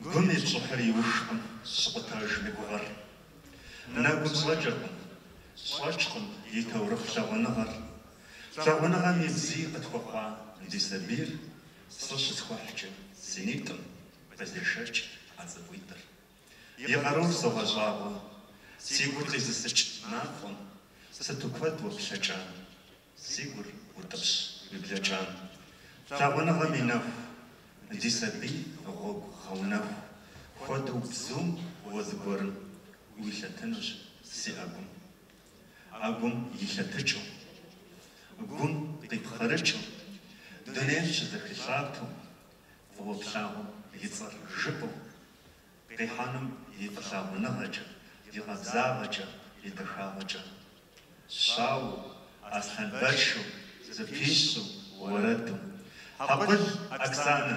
Гум и щӏыхьыр иухкъым щыкъутэжым и гугъэр. Нэгум щӏэкӏыркъым, щӏэчкъым и таурыхъ лъагъуныгъэр. Лъагъуныгъэм и бзий къытхуэхъуа ди сабийр сэ щысхуэхькӏэ си нитӏым къызешэкӏ ӏэ цӏыкӏуитӏыр. И къарур согъэщӏагъуэ, си гур къизысыкӏ нагъуэм сыту куэд уэ плъэкӏам. Си гур утӏыпщ уи блэкӏам. Лъагъуныгъэм и нэху. Ди сабий гъуэгу гъэунэху. Хуэдэу бзум уэ зыгуэрым. Уилъэтынущ си ӏэгум. ӏэгум илъэтыкӏыу. Гум къипхъэрыкӏыу. Дунейм щызэхилъатэу. Фӏыуэ плъагъум и цӏэр жыпӏэу. Къихьэным и фӏылъагъуныгъэкӏэ, и къабзагъэкӏэ, и дахагъэкӏэ. Щауэу, аслъэнбэшэу, зэпищу, уэрэду. Хьэкъул Оксанэ!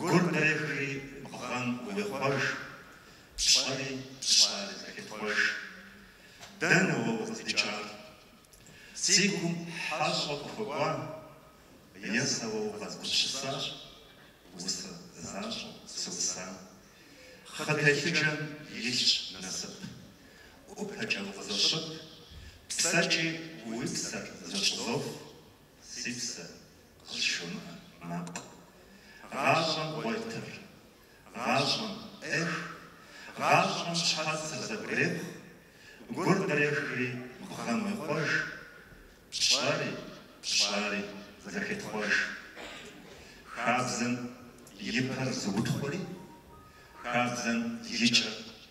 Гур дрехри бгъэм уехъуэж, пщӏэри пщӏари зэхетхъуэж. Дэнэ уэ укъыздикӏар? Си гум хьэщӏэ къыхуэкӏуа? Е сэ уэ укъэзгупсысар? Усэ защӏэу сыуса. Хъытехьыджэм илъщ насып. ӏупэкӏэ укъызощып, псэкӏи уи псэр зэщӏызоф. Си псэ къызжумыӏэ макъ. Гъащӏэм къуетыр, гъащӏэм пӏех, гъащӏэм щхьэцыр зэгурехъу, гур дрехри бгъэм уехъуэж, пщӏэри, пщӏари зэхетхъуэж. Хабзэм и пэр зыутхъури, хабзэм и кӏэр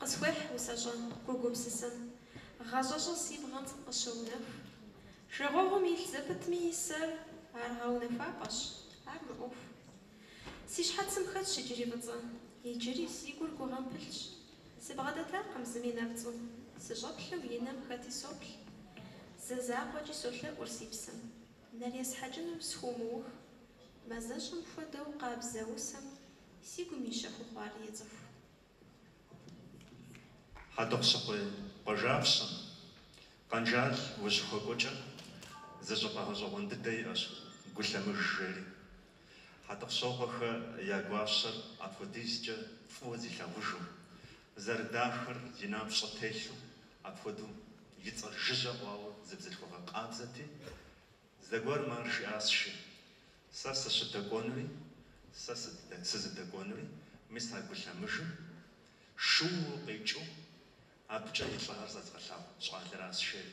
Къысхуехь усэщӏэм гу гупсысэм. Гъащӏэщӏэ си бгъэм къыщоунэху. Жагъуэгъум илъ зэпытми и сэр ар гъэунэхуапӏэщ, ар гу ӏуэху. Си щхьэцым хэтщ иджыри фӏыцӏэ, иджыри си гур гугъэм пылъщ. Сыбгъэдэтакъым зыми нэпцӏу, сыщӏэплъэу и нэм хэти соплъ. Зэ закъуэкӏи солъэӏур си псэм. Нэр есхьэкӏыну схуумыух, мазэщӏэм хуэдэу къабзэ усэм си гум и щэхуу хъуар ецӏыху. Хьэтӏохъущыкъуей къуажапщэм, Къанжал узыщыхуэкӏуэкӏэ, зы щӏыпӏэ гъэщӏэгъуэн дыдэ иӏэщ, Гу лъэмыж жери. Хьэтӏохъущокъуэхэ я гуащэр апхуэдизкӏэ фӏыуэ зилъагъужу, зэрыдахэр зи напщӏэ телъу апхуэдэу И цӏэр жыжьэ ӏуауэ зы бзылъхугъэ къабзэти, зэгуэрым мыр жиӏащ жи, Сэ сыщыдэкӏуэнури, сэ сызыдэкӏуэнури, мис а гу лъэмыжым шууэ къикӏыу абыкӏэ и лӏыгъэр зэзгъэлъагъу щӏалэращ жери,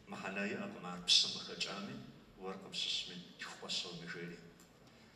мыхьэнэ иӏэкъым ар пщым къыхэкӏами, уэркъым щыщми, лъхукъуэщоми жери.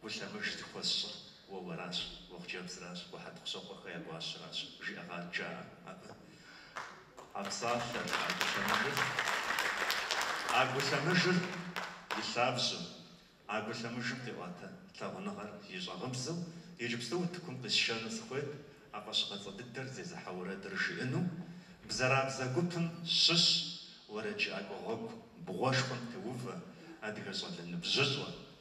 Гу лъэмыж зыхуэсщӏыр уэ уэращ, уэ хъыджэбзращ, уэ Хьэтӏохъущокъуэхэ я гуащэращ, жиӏэгъащ жаӏэ абы. А псалъэр, а гу лъэмыжыр, а гу лъэмыжыр и лъабжьэу, а гу лъэмыжым къиӏуатэ лъагъуныгъэр и щӏагъыбзэу иджыпсту утыкум къисшэну сыхуейт а фӏэщыгъэцӏэ дыдэр зезыхьэ уэрэдыр жиӏэну, бзэрабзэ гупым щыщ уэрэджыӏакӏуэ гъуэгу бгъуэшхуэм теувэ адыгэ щӏалэ ныбжьыщӏэ,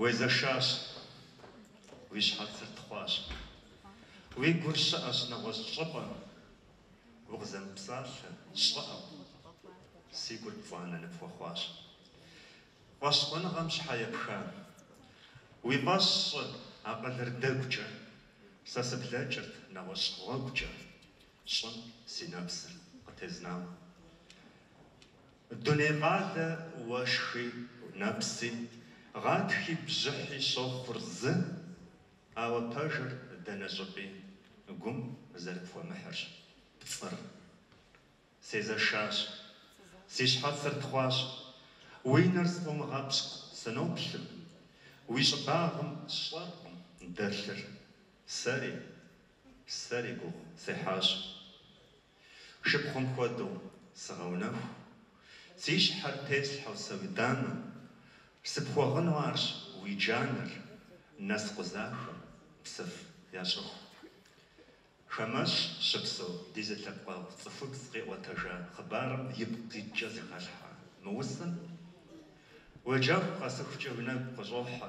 Уезэшащ, уи щхьэцыр тхъуащ. Уи гур щыӏэщ, нэгъуэщӏ щӏыпӏэ. Укъызэмыпсалъэ, щӏыӏэу, си гур пцӏанэ ныпхуэхъуащ. Фӏэщхъуныгъэм щхьэ епха? Уи фӏэщ щӏы, акъылыр дэгукӏэ. Сэ сыблэкӏырт нэгъуэщӏ гъуэгукӏэ, щӏым си нэпсыр къытезнауэ. Дуней къалэ уэшхи нэпси, гъатхи бжьыхьи щохъур зы, ауэ пэжыр дэнэ щӏыпӏи гум зэрыпхуэмыхьырщ пцӏыр. Сезэшащ, си щхьэцыр тхъуащ, уи нэр сфӏумыгъэпщкӏу сыноплъым, уи щӏыбагъым сщӏэркъым дэлъыр, сэри, сэри гугъу сехьащ. Шыпхъум хуэдэу сыгъэунэху, си щхьэр теслъхьэу сэ уи дамэм, Сыпхуэгъыну арщ уи джанэр, нэпс къэжахэм, псыф ящӏыху. Хамэщӏ щыпсэу ди зы лъэпкъэгъу цӏыхубз къиӏуэтэжа хъыбарым ипкъ къикӏкӏэ зэхалъхьа мы усэм, уеджэху къэсыхукӏэ уи нэгу къыщӏохьэ.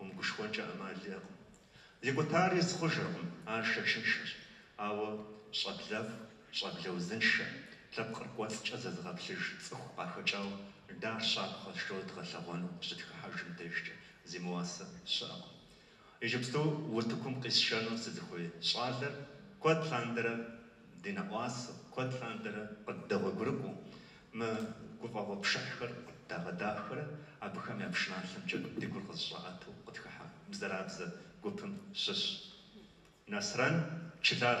Умыгушхуэнкӏэ ӏэмал иӏэкъым. Икӏутар из хъужыркъым, ар шэчыншэщ, ауэ щӏэблэфӏ, щӏэблэ узыншэ, лъэпкъыр кӏуэцӏкӏэ зэзыгъэплъыж цӏыху къахэкӏауэ дэ ар щапхъэ къэтщтэу дгъэлъэгъуэну къыщытхыхьэжым дежкӏэ зимыуасэ щыӏэкъым. Иджыпсту утыкум къисшэну сызыхуей щӏалэр куэд лъандэрэ. Ди нэӏуасэ, куэд лъандэрэ къыддэгъуэгурыкӏуэу, мы гуфӏэгъуэ пшыхьхэр къыддагъэдахэрэ абыхэм я пшыналъэмкӏэ ди гур къызэщӏаӏэтэу къытхыхьа бзэрабзэ гупым щыщ Нэсрэн Чылар.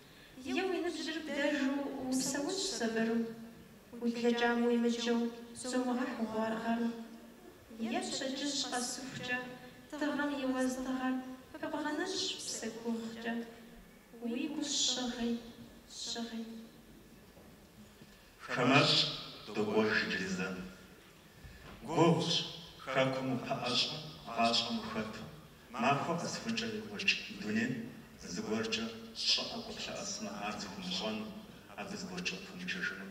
Е уи ныбжьыр бдэжу упсэунщ сабыру, Уи блэкӏам уимыджэу зумыгъэхь гъуар гъэру. Е пщэдджыжь къэсыхукӏэ тыгъэм и уэздыгъэр пыбгъэнэнщ псэ гугъукӏэ, Уи гущӏыгъи щыгъи. Хамэщӏ докӏуэж иджыри зэ. Гугъущ, хэкум упэӏэщӏэу, гъащӏэм ухэту, махуэ къэсыхункӏэ екӏуэкӏ дунейм зыгуэркӏэ щӏыӏэу къыплъэӏэсмэ, ар зыхумыщӏэну, абы зыгуэркӏэ укъыпэмыджэжыну.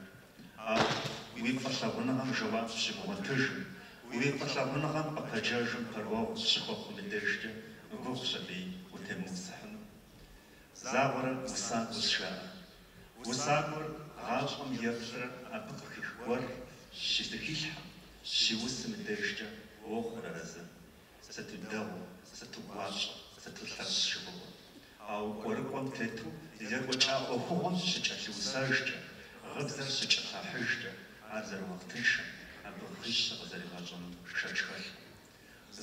Ауэ уи фӏылъагъуныгъэм жэуап щыбгъуэтыжым, уи фӏылъагъуныгъэм къыпэджэжым пэрыуэгъу щыхуэхъум и дежкӏэ гугъущ абыи утемыусыхьыну. Загъуэрэ усакӏуэ сжаӏэ. Усакӏуэр гъащӏэм еплърэ абы къыхих гуэр щызэхилъхьэм, щиусым и дежкӏэ уохъур арэзы. Сыту дэгъуэ, сыту гуащӏэ, сыту лъэщ жыхуиӏэу. Ауэ кӏуэрыкӏуэм тету екӏуэкӏа ӏуэхугъуэм щыкӏэлъыусэжкӏэ, гъыбзэр щыкӏэлъахьыжкӏэ, ар зэрыуахътыншэм, абы хыжь щыкъызэригъэщӏэну шэч хэлъкъым.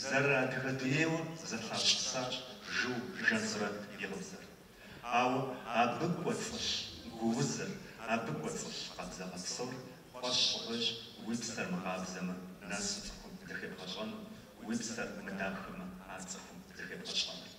Зэрыадыгэ дунейуэ зэлъащӏысащ Жансурэт и гъыбзэр. Ауэ абы кӏуэцӏылъ гуузыр, абы кӏуэцӏылъ къабзагъэ псор фӏэщ щӏыгъуейщ уи псэр мыкъабзэмэ, нэсу цӏыхум зыхебгъэщӏэну, уи псэр мыдахэмэ, ар цӏыхум зыхебгъэщӏэну.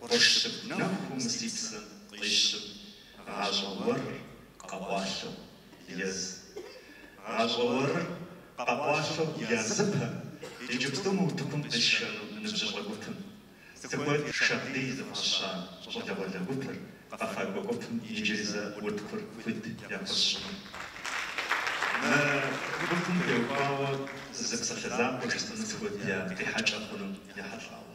Къурш щыгу нэху мы си псэм къищым, гъащӏэ уэрыр къэкъуалъэу ез. Гъащӏэ уэрыр къэкъуалъэу языпэ иджыпсту мы утыкум къисшэну ныбжьыщӏэ гупым. Сыхуейщ Шагъдий зыфӏаща щӏалэгъуалэ гупыр, къэфакӏуэ гупым иджыри зэ утыкур хуит яхуэсщӏыну. Мы гупым теухуауэ зы псалъэ закъуэ жысӏэну сыхуейт я къихьэкӏэ хъунум ехьэлӏауэ.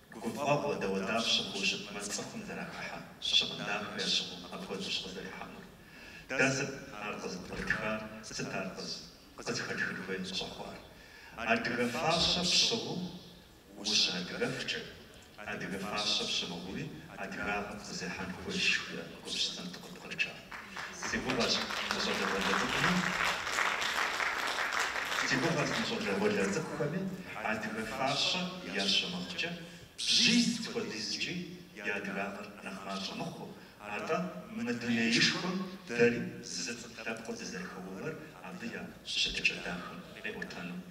Гуфӏэгъуэ дауэдапщэ щыхъуу щытмэ цӏыхум зэрахыхьэ щыгъын дахэ ящыгъыу апхуэдэущ къызэрихьэнур. Дэ сыт ар къызыпкърытхар, сыт ар къызыхэтхын хуей щӏэхъуар? Адыгэ фащэ пщыгъыу ущыадыгэфкӏэ, адыгэ фащэ пщымыгъыуи адыгагъэр зехьэн хуейщ жиӏэ гупсысэм дыкъыпкърыкӏа. Си гугъэщ мы щӏалэгъуалэ цӏыкӏуми, си гугъэщ мы щӏалэгъуалэ цӏыкӏухэми адыгэ фащэ ящымыгъкӏэ, бжьиз хуэдизкӏи я адыгагъэр нэхъ мащӏэ мыхъуу, атӏэ мы дунеишхуэм дэри зы цӏыху лъэпкъыу дызэрыхэувэр абы я щытыкӏэ дахэм къиӏуэтэну.